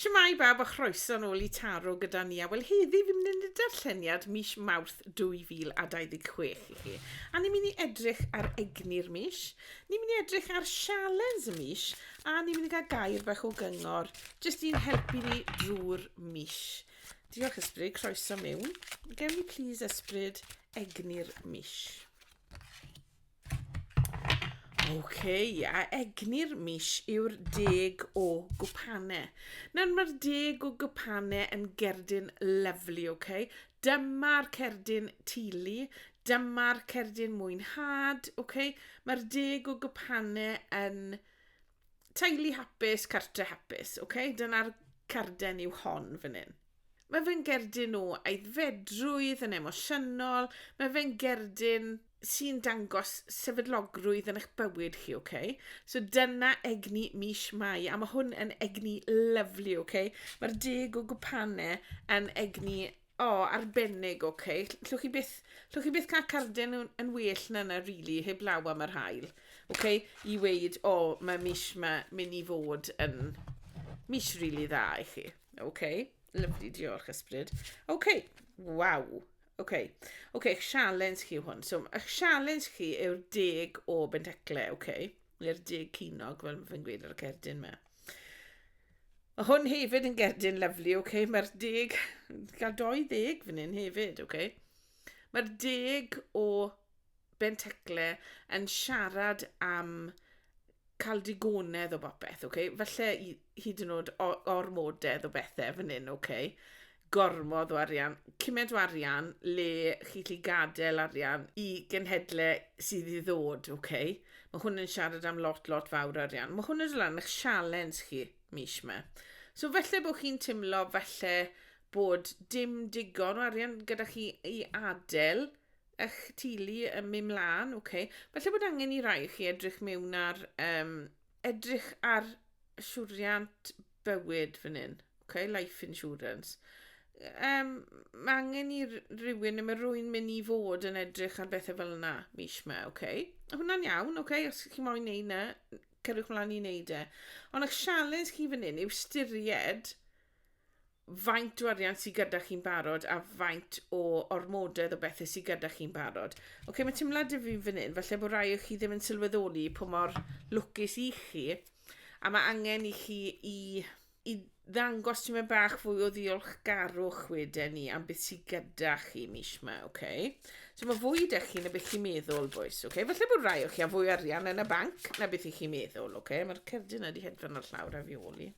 Shwmae bawb a chroeso'n ôl i Taro gyda ni a wel heddi fi'n mynd i darlleniad mis Mawrth 2026 i chi a ni'n mynd i edrych ar egni'r mis, ni'n mynd i edrych ar sialens y mis a ni'n mynd i gael gair bach o gyngor jyst i'n helpu ni drwy'r mis. Diolch Ysbryd, croeso mewn. Gewn ni please Ysbryd egni'r mis. OK, a egni'r mis yw'r deg o gwpanau. Nawr mae'r deg o gwpanau yn gerdyn lyflu, OK? Dyma'r cerdyn tulu, dyma'r cerdyn mwynhad, OK? Mae'r deg o gwpanau yn Teulu hapus, cartre hapus, ok? Dyna'r carden yw hon fan hyn. Mae fe'n gerdyn o aeddfedrwydd yn emosiynol, mae fe'n gerdyn sy'n dangos sefydlogrwydd yn eich bywyd chi, ok? So dyna egni mis Mai, a mae hwn yn egni lyflu, ok? Mae'r deg o gwpanau yn egni O, oh, arbennig, oce. Okay. Llwch chi byth, llwch chi byth cael carden yn, yn well na yna, rili, really, heb law am yr hael. Oce, okay? i weid, o, oh, mae mis ma mynd i fod yn mis rili really dda i chi. Oce, okay? lyflu, diolch ysbryd. Oce, okay. waw. Oce, okay. oce, okay, challenge chi hwn. So, y challenge chi yw'r deg o benteclau, oce. Okay? Neu'r deg cynog, fel mae'n gweud ar y cerdyn yma. Mae hwn hefyd yn gerdyn lyflu, ok? Mae'r deg... gael dou ddeg fan hyn hefyd, ok? Mae'r deg o Bentecle yn siarad am cael digonedd o bopeth, ok? Falle i- hyd yn oed o- ormodedd o bethe fan hyn, ok? gormod o arian, cymaint o arian le chi'n gallu gadael arian i genhedle sydd i ddod, oce? Okay? Mae hwn yn siarad am lot, lot fawr o arian. Mae hwn yn siarad am eich sialens chi mis yma. So felly bod chi'n teimlo felly bod dim digon o arian gyda chi i adael eich teulu yn mynd mlaen, oce? Okay? Felly bod angen i rai chi edrych mewn ar, um, edrych ar siwriant bywyd fan hyn. Ok, life insurance. Um, mae angen i rywun, neu mae rwy'n mynd i fod yn edrych ar bethau fel yna mis yma, ok? Hwna'n iawn, ok? Os chi moyn neud yna, cyrwch mlaen i neud e. Ond eich sialens chi fan hyn yw styried faint o arian sydd gyda chi'n barod a faint o ormodedd o bethau sydd gyda chi'n barod. Oce, okay, mae teimlad i fi fan hyn, falle bod rai o chi ddim yn sylweddoli pwy mor lwcus i chi, a mae angen i chi i i ddangos tipyn bach fwy o ddiolchgarwch wedyn ni am beth sydd gyda chi mis yma, oce? Okay? So mae fwy da chi na beth chi'n meddwl, boys, oce? Okay? Felly bod rai o chi a fwy arian yn y banc na beth i chi'n meddwl, oce? Okay? Mae'r cerdyn yna wedi hedfan o'r llawr a fi oli.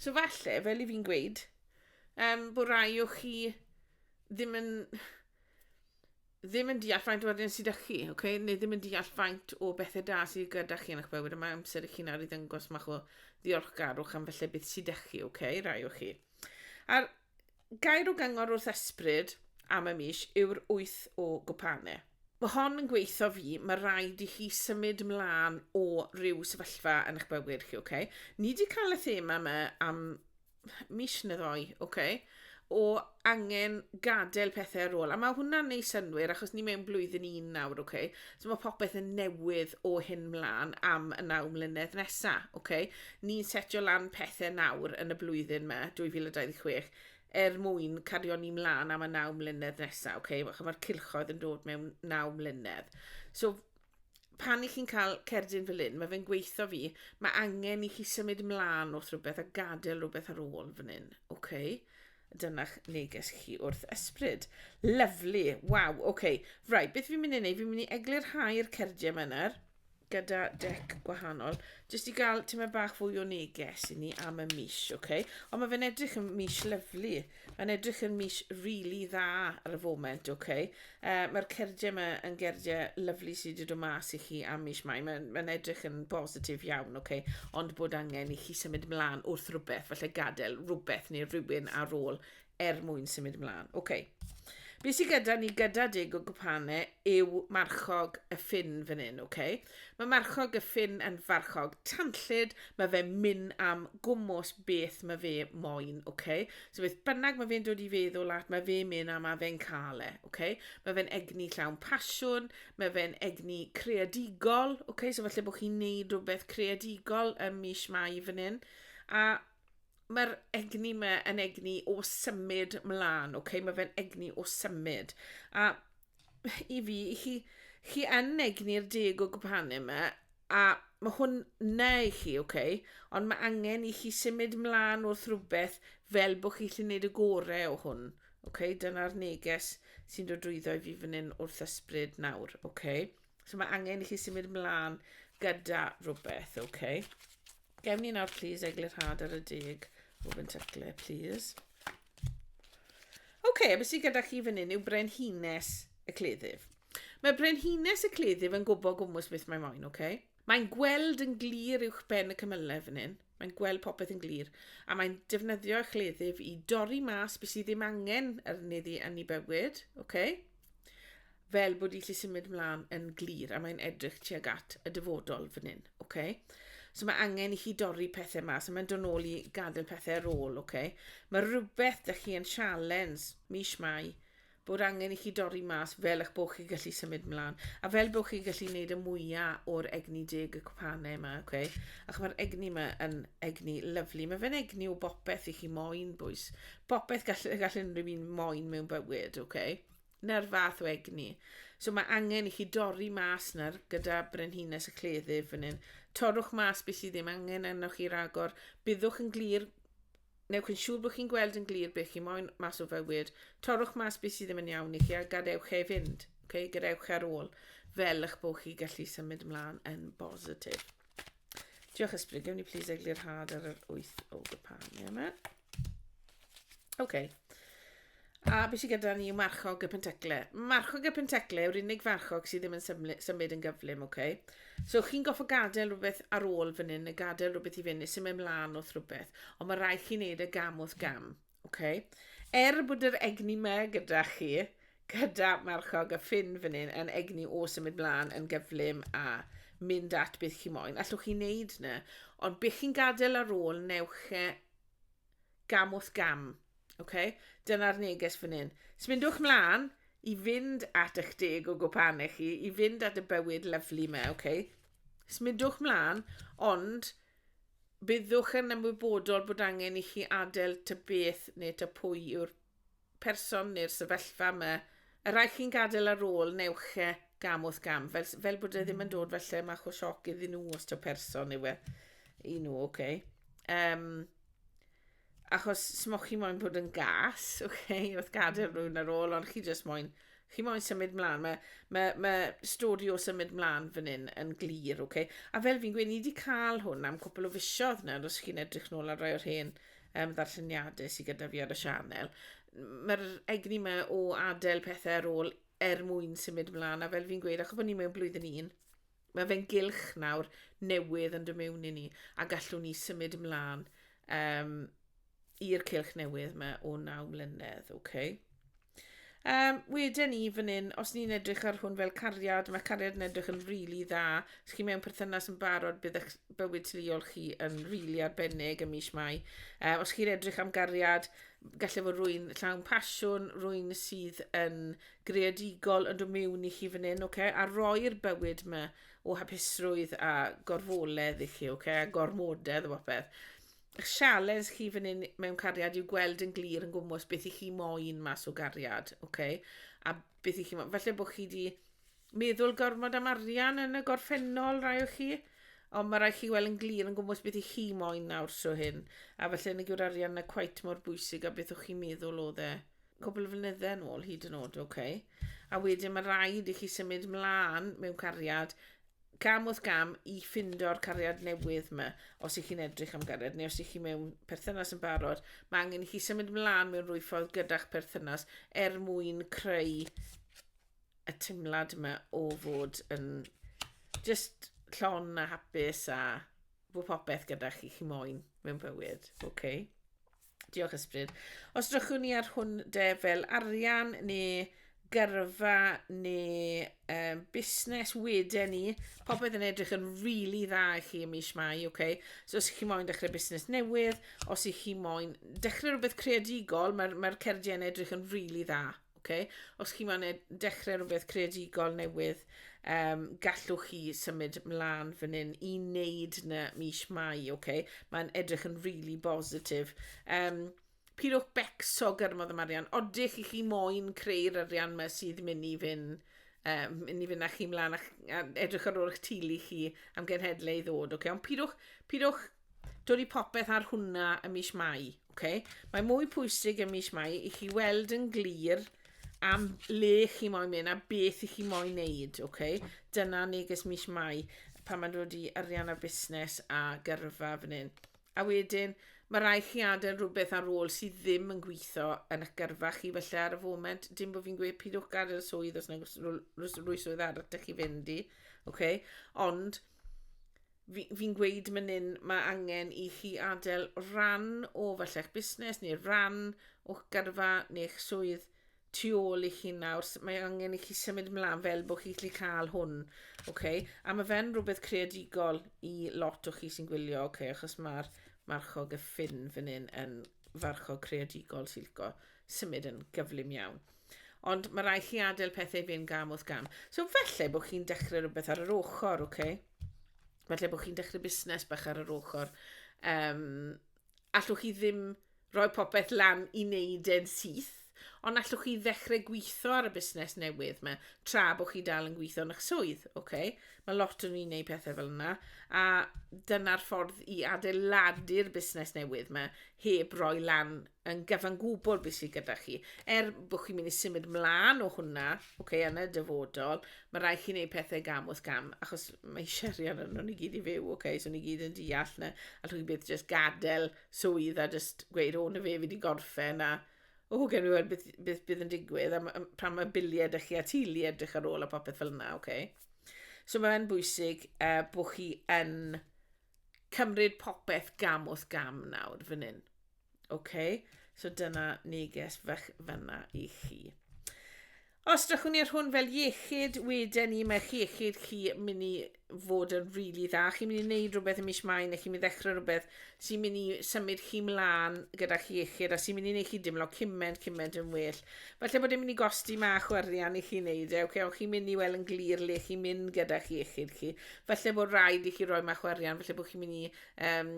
So falle, fel i fi'n gweud, um, bod rai o chi ddim yn... ddim yn deall faint o arian sydd â chi, okay? neu ddim yn deall faint o bethau da sydd gyda chi yn eich bywyd, a mae amser i chi'n ar i ddyngos mach o ddiolchgarwch am felly beth sydd â chi, okay? rai o chi. A'r gair o gyngor wrth esbryd am y mis yw'r wyth o gwpanau. Mae hon yn gweithio fi, mae rhaid i chi symud mlaen o ryw sefyllfa yn eich bywyd chi, okay? Ni wedi cael y thema yma am mis neu ddoi, oce, okay, o angen gadael pethau ar ôl. A mae hwnna'n neud synwyr, achos ni mewn blwyddyn un nawr, oce. Okay? So mae popeth yn newydd o hyn mlaen am y naw mlynedd nesa, oce. Okay? Ni'n setio lan pethau nawr yn y blwyddyn me, 2026, er mwyn cario ni mlaen am y naw mlynedd nesa, oce. Okay? Mae'r cilchoedd yn dod mewn naw mlynedd. So pan i chi'n cael cerdyn fel hyn, mae fe'n gweithio fi, mae angen i chi symud mlaen wrth rhywbeth a gadael rhywbeth ar ôl fan hyn. Okay? Dyna'ch neges chi wrth ysbryd. Lyflu. Waw, oce. Okay. Rai, beth fi'n mynd i wneud? Fi'n mynd i eglurhau'r cerdiau yma nawr gyda dec gwahanol, jyst i gael tyma bach fwy o neges i ni am y mis, oce? Okay? Ond mae fe'n edrych yn mis lyflu. Mae'n edrych yn mis really dda ar y foment, ok. Uh, Mae'r cerdiau yma yn gerdiau lyflu sydd wedi dod mas i chi am mis mai. Mae'n mae edrych yn bositif iawn, ok. Ond bod angen i chi symud mlaen wrth rhywbeth, falle gadael rhywbeth neu rhywun ar ôl er mwyn symud mlaen. Ok. Be sydd gyda ni gyda dig o gwpane yw marchog y ffin fan hyn, ok. Mae marchog y ffin yn farchog tanllyd, mae fe myn am gwmws beth mae fe moyn, oce? Okay? So beth bynnag mae fe'n dod i feddwl at, mae fe myn am a fe'n cael e, oce? Okay? Mae fe'n egni llawn pasiwn, mae fe'n egni creadigol, oce? Okay? So falle bod chi'n neud rhywbeth creadigol ym mis Mai fan hyn. A mae'r egni yma yn egni o symud mlaen, oce? Okay? Mae fe'n egni o symud. A i fi, i chi, chi yn egni'r deg o gwpanu yma, a mae hwn na i chi, oce, okay? ond mae angen i chi symud mlaen wrth rhywbeth fel bod chi'n gallu gwneud y gorau o hwn. Okay? Dyna'r neges sy'n dod drwyddo i fi fan hyn wrth ysbryd nawr. Okay? So mae angen i chi symud ymlaen gyda rhywbeth, oce? Okay? Gewn ni nawr, please, eglurhad ar y deg o fentyglau, please. Oce, okay, beth sydd gyda chi fan hyn yw brenhines y cleddyf. Mae brenhines y cleddyf yn gwybod gwmwys beth mae moyn, oce? Okay? Mae'n gweld yn glir uwch ben y cymylau fan hyn. Mae'n gweld popeth yn glir. A mae'n defnyddio y chleddyf i dorri mas beth sydd ddim angen arni ddi yn ei bywyd, oce? Okay? fel bod i lli symud mlaen yn glir, a mae'n edrych tuag at y dyfodol fan hyn, oce? Okay? So mae angen i chi dorri pethau mas, a mae'n dod nôl i gadael pethau ar ôl, oce? Okay? Mae rhywbeth da chi yn sialens mis mai, bod angen i chi dorri mas fel eich bod chi gallu symud mlaen, a fel bod chi gallu gwneud y mwyaf o'r egni deg y cwpanau yma, oce? Okay? Ac mae'r egni yma yn egni lyflu. Mae fe'n egni o bopeth i chi moyn, bwys. popeth gall y gall unrhyw un moyn mewn bywyd, oce? Okay? Na'r fath o egni. So mae angen i chi dorri mas na'r gyda brenhines y cleddyf fan hyn. Torrwch mas beth sydd ddim angen arnoch chi ragor. Byddwch yn glir, newch yn siŵr bod chi'n gweld yn glir beth chi moyn mas o fywyd. Torrwch mas beth sydd ddim yn iawn i chi a gadewch ei fynd. Okay? Gadewch ar ôl fel eich bod chi gallu symud ymlaen yn bositif. Diolch Ysbryd, gewn ni plis eglurhad ar yr wyth o gypanu yma. OK. A beth sydd gyda ni yw marchog y pentecle. Marchog y pentecle yw'r unig farchog sydd ddim yn symud yn gyflym, OK? So chi'n goffo gadael rhywbeth ar ôl fan hyn, neu gadael rhywbeth i fyny, sy'n mynd mlaen wrth rhywbeth, ond mae rhaid chi wneud y e gam wrth gam. Ok. Er bod yr egni me gyda chi, gyda Marchog a Ffinn fan hyn, yn egni o symud mlaen yn gyflym a mynd at beth chi moyn, allwch chi wneud na. Ond bych chi'n gadael ar ôl, newch e gam wrth gam. Ok? Dyna'r neges fan hyn. Smyndwch mlaen i fynd at eich deg o gwpanau chi, i fynd at y bywyd lyflu me, ok? Smyndwch mlaen, ond Byddwch yn ymwybodol bod angen i chi adael tŷ beth neu tŷ pwy yw'r person neu'r sefyllfa yma. Y rhai chi'n gadael ar ôl, newch e gam wrth gam, fel, fel bod e ddim yn dod falle mach o sioc iddyn nhw os taw person yw e i nhw, oce? Okay? Um, achos smoch chi moyn bod yn gas, oce, okay, wrth gadael mm. rhywun ar ôl, ond chi jyst moyn, chi moyn symud mlaen. Mae ma, ma stori o symud mlaen fan hyn yn glir, oce. Okay? A fel fi'n gweud, ni wedi cael hwn am cwpl o fisiodd nawr, os chi'n edrych nôl ar rai o'r hen um, ddarlleniadau sydd gyda fi ar y sianel. Mae'r egni yma o adael pethau ar ôl er mwyn symud mlaen, a fel fi'n gweud, achos bod ni mewn blwyddyn un, Mae fe'n gylch nawr, newydd yn dod mewn i ni, a gallwn ni symud ymlaen um, i'r cylch newydd yma o naw mlynedd, oce? Okay? Um, wedyn ni fan hyn, os ni'n edrych ar hwn fel cariad, mae cariad yn edrych yn rili really dda. Os chi mewn perthynas yn barod, bydd eich bywyd teuluol chi yn rili really arbennig ym mis mai. Uh, os chi'n edrych am gariad, gallai fod rwy'n llawn pasiwn, rwy'n sydd yn greadigol yn dod mewn i chi fan hyn, okay? a roi'r bywyd yma o hapusrwydd a gorfoledd i chi, okay? a gormodedd o bopeth. Eich sialens chi fan hyn mewn cariad yw gweld yn glir yn gwmwys beth i chi moyn mas o gariad, okay? a beth i chi moyn. Felly bod chi wedi meddwl gormod am arian yn y gorffennol rai o chi, ond mae rai chi weld yn glir yn gwmwys beth i chi moyn nawr so hyn, a felly yn y gyw'r arian na cwait mor bwysig a beth o'ch chi'n meddwl o dde. cwpl o flynyddau yn ôl hyd yn oed, oce. Okay. A wedyn mae rhaid i chi symud mlaen mewn cariad gam wrth gam i ffindo'r cariad newydd yma, os ych chi'n edrych am gariad, neu os ych chi mewn perthynas yn barod, mae angen i chi symud mlaen mewn rwy ffordd gyda'ch perthynas er mwyn creu y teimlad yma o fod yn just llon a hapus a bod popeth gyda chi chi moyn mewn bywyd, oce? Okay? Diolch Ysbryd. Os drychwn ni ar hwn de fel arian neu gyrfa neu um, busnes wedyn ni, popeth yn edrych yn rili really dda i chi ym mis Mai, oce? Okay? So os chi moyn dechrau busnes newydd, os i chi moyn dechrau rhywbeth creadigol, mae'r mae, r, mae r cerdiau yn edrych yn rili really dda. Oce? Os chi'n man dechrau rhywbeth creadigol newydd, um, gallwch chi symud mlaen fan hyn i wneud na mis Mai, oce? Mae'n edrych yn really bositif. Um, pidwch becso gyrmodd y marian. Odych i chi moyn creu'r arian yma sydd mynd i fyn, um, mynd i fyn â chi mlaen a, a edrych ar ôl eich tulu chi am genhedlau i ddod, oce? Ond pidwch, pidwch dod i popeth ar hwnna ym mis Mai, okay? Mae mwy pwysig ym mis Mai i chi weld yn glir am le chi moyn mynd a beth i chi moyn wneud, okay? Dyna neges mis Mai pan mae'n dod i arian a busnes a gyrfa fan hyn. A wedyn, mae rai chi adael rhywbeth ar ôl sydd ddim yn gweithio yn eich gyrfa chi felly ar y foment. Dim bod fi'n gweud pidwch gadael swydd os na rhywswydd arall da chi fynd i. Okay? Ond, fi, fi'n gweud mynnyn mae angen i chi adael rhan o falle'ch busnes neu rhan o'ch gyrfa neu'ch swydd tu ôl i chi nawr, mae angen i chi symud mlaen fel bod chi'n gallu cael hwn, okay? a mae fe'n rhywbeth creadigol i lot o chi sy'n gwylio, okay? achos mae'r marchog y ffin fan hyn yn farchog creadigol sy'n licio symud yn gyflym iawn. Ond mae rhaid chi adael pethau fynd gam wrth gam. So felly bod chi'n dechrau rhywbeth ar yr ochr, oce? Okay? Felly bod chi'n dechrau busnes bach ar yr ochr. Um, allwch chi ddim rhoi popeth lan i wneud e'n syth, ond allwch chi ddechrau gweithio ar y busnes newydd yma, tra bod chi dal yn gweithio yn eich swydd, oce? Okay? Mae lot o'n i'n gwneud pethau fel yna, a dyna'r ffordd i adeiladu'r busnes newydd yma, heb roi lan yn gyfan gwbl beth sydd gyda chi. Er bod chi'n mynd i symud mlaen o hwnna, okay, yn y dyfodol, mae rhaid chi wneud pethau gam wrth gam, achos mae eisiau arian yn nhw'n i gyd i fyw, okay, so ni gyd yn deall na, a chi byth jyst gadael swydd a jyst gweud, o, na fe, fi wedi gorffen, a o, oh, gen i weld beth, beth bydd yn digwydd, a pan mae biliau ydych chi a tili edrych ar ôl a popeth fel yna, okay. So mae'n bwysig uh, bod chi yn cymryd popeth gam wrth gam nawr fan hyn. OK, so dyna neges fach fanna i chi. Os drachwn ni ar hwn fel iechyd, wedyn ni mae'ch iechyd chi mynd i fod yn rili really dda. Chi'n mynd i wneud rhywbeth yn mis mai, neu chi'n mynd i ddechrau rhywbeth sy'n mynd i symud chi mlaen gyda'ch iechyd, a sy'n mynd i wneud chi dimlo cymaint, cymaint yn well. Falle bod e'n mynd i gosti mach o arian i chi wneud e, okay, ond chi'n mynd i weld yn glir le chi'n mynd gyda'ch iechyd chi. falle bod rhaid i chi roi mach o arian, falle bod chi'n mynd i um,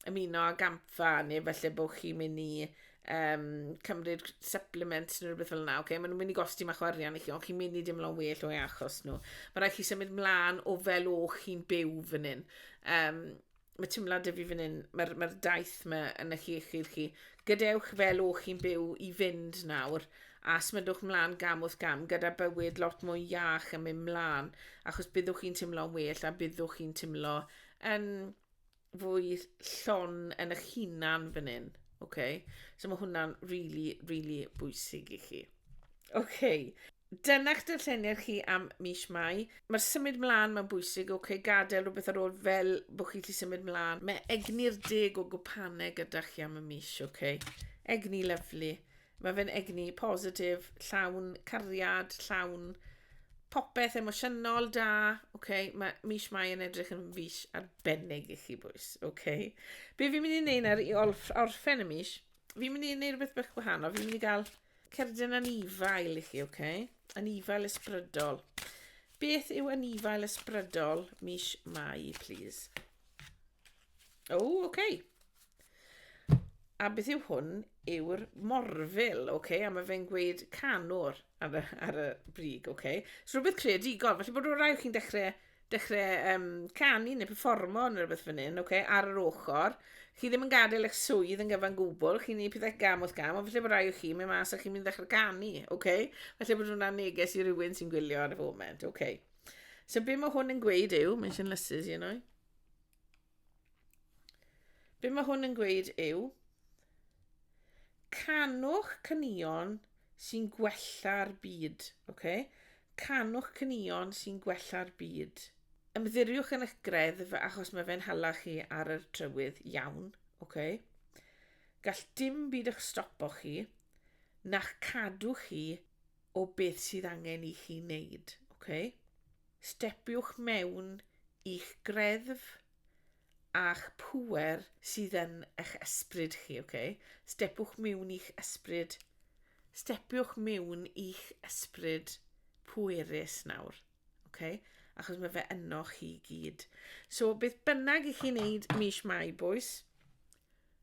ymuno â gampfa, neu falle bod chi'n mynd i um, cymryd supplements neu rhywbeth fel yna. Okay? Maen nhw'n mynd i gosti mach o arian i chi, ond chi'n mynd i dimlo'n well o'i achos nhw. Mae rhaid chi symud mlaen o fel o chi'n byw fan hyn. Um, mae teimlad y fi fan hyn, mae'r mae daith yma yn eich iechyd chi. Gadewch fel o chi'n byw i fynd nawr, a smyddwch mlaen gam wrth gam gyda bywyd lot mwy iach yn mynd mlaen, achos byddwch chi'n teimlo'n well a byddwch chi'n teimlo yn fwy llon yn eich hunan fan hyn. Okay? So mae hwnna'n really, really bwysig i chi. Okay. Dyna'ch darlleniad chi am mis Mai. Mae'r symud mlaen mae'n bwysig, oce, okay, gadael rhywbeth ar ôl fel bod chi lli symud mlaen. Mae egni'r deg o gwpanau gyda chi am y mis, oce. Okay. Egni lyflu. Mae fe'n egni positif, llawn cariad, llawn popeth emosiynol da. Okay. Mae mis Mai yn edrych yn fis arbennig i chi bwys. Okay. Be fi'n mynd i wneud nawr i orffen y mis, fi'n mynd i wneud rhywbeth bach gwahanol. Fi'n mynd i gael Cerdyn anifail i chi, oce? Okay? Anifail ysbrydol. Beth yw anifail ysbrydol mis Mai, please? O, oh, oce. Okay. A beth yw hwn? Yw'r morfil, oce? Okay? A mae fe'n gweud canwr ar y, ar y brig, oce? Okay? So rhywbeth creadigol. Felly bod rhywun rhaid chi'n dechrau dechrau um, canu neu performo neu rhywbeth fan hyn, okay, ar yr ochr. Chi ddim yn gadael eich swydd yn gyfan gwbl, chi'n gwneud pethau gam wrth gam, ond felly bod rai o chi, mae mas a chi'n mynd ddechrau canu, okay? Felly bod hwnna'n neges i rywun sy'n gwylio ar y foment, okay. So be mae hwn yn gweud yw, mae'n sy'n lysus i yno. Be mae hwn yn gweud yw, canwch cynnion sy'n gwella'r byd, okay? canwch cynnion sy'n gwella'r byd. Ymddiriwch yn eich greddf achos mae fe'n hala chi ar y trywydd iawn. Okay? Gall dim byd eich stopo chi, na'ch cadw chi o beth sydd angen i chi wneud. Okay? Stepiwch mewn i'ch greddf a'ch pŵer sydd yn eich ysbryd chi. Okay? Stepiwch mewn i'ch ysbryd. Stepiwch mewn i'ch ysbryd pwerus nawr. Okay? Achos mae fe yno chi gyd. So, beth bynnag i chi wneud mis Mai, boys,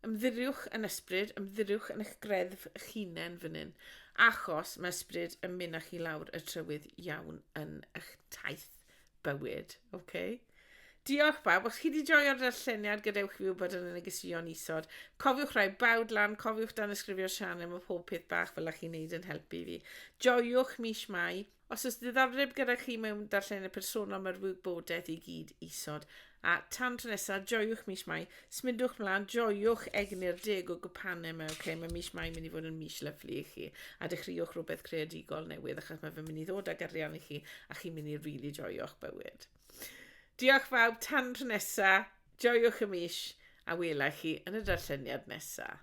Ymddiriwch yn ysbryd, ymddiriwch yn eich greddf eich hunain fan hyn, achos mae ysbryd yn mynd â chi lawr y trywydd iawn yn eich taith bywyd. Okay? Diolch bawb, os chi wedi joio'r darlleniad gadewch fi wybod yn y negeseuon isod. Cofiwch rhoi bawd lan, cofiwch dan ysgrifio'r sianel, mae pob peth bach fel ych chi'n neud yn helpu fi. Joiwch mis Mai, Os oes diddordeb gyda chi mewn darllenydd personol mae'r wybodaeth i gyd isod. A tan tro nesaf, joiwch mis mai, smidwch mlaen, joiwch egni'r deg o gwpanau yma, ok, mae mis mai mynd i fod yn mis lyflu i chi, a dechreuwch rhywbeth creadigol newydd achos mae fe mynd i ddod ag arian i chi a chi'n mynd i rili really joio'ch bywyd. Diolch bawb, tan tro nesaf, joiwch y mis a welai chi yn y darlleniad nesaf.